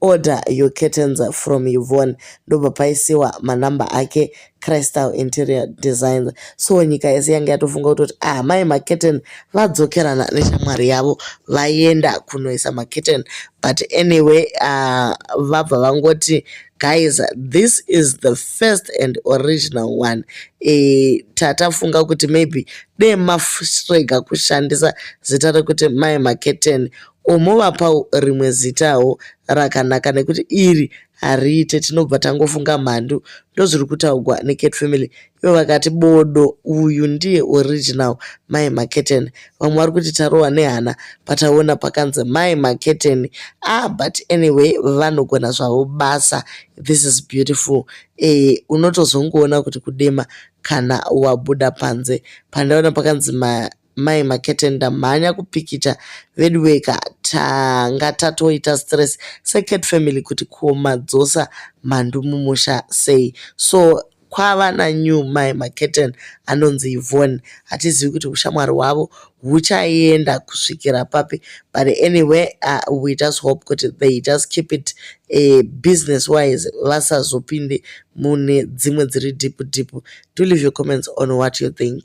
Order your curtains from Yvonne ndobva paisiwa manumber ake Crystal Interior Designs. So nyika yese yange yatofunga kutoti ah mai maketen vadzokerana neshamwari yavo vaenda kunoisa maketen but anyway uh, vabva vangoti guys this is the first and original one e, tatafunga kuti maybe dee mafrega kushandisa zita rekuti mai maketen Womovapawo rimwe zitawo rakanaka nekuti iri hariite tinobva tangofunga mhandu ndozviri kutaugwa necat family ivo vakati bodo uyu ndiye original mai maketen vamwe vari kuti tarohwa nehana pataona pakanzi mai maketen ah but anyway vanogona zvavo basa this is beautiful e unotozongoona kuti kudema kana wabuda panze pandaona pakanzi ma mai makete ndamhanya kupikicha veduweka tanga tatoita stress second family kuti kuomadzosa mhandu mumusha sei so kwava nanew mai maketen anonzi ivon hatizivi kuti ushamwari hwavo huchaenda kusvikira papi but anyway uh, we just hope kuti they just keep it uh, business wise vasazopinde mune dzimwe dziri deep deep do leave your comments on what you think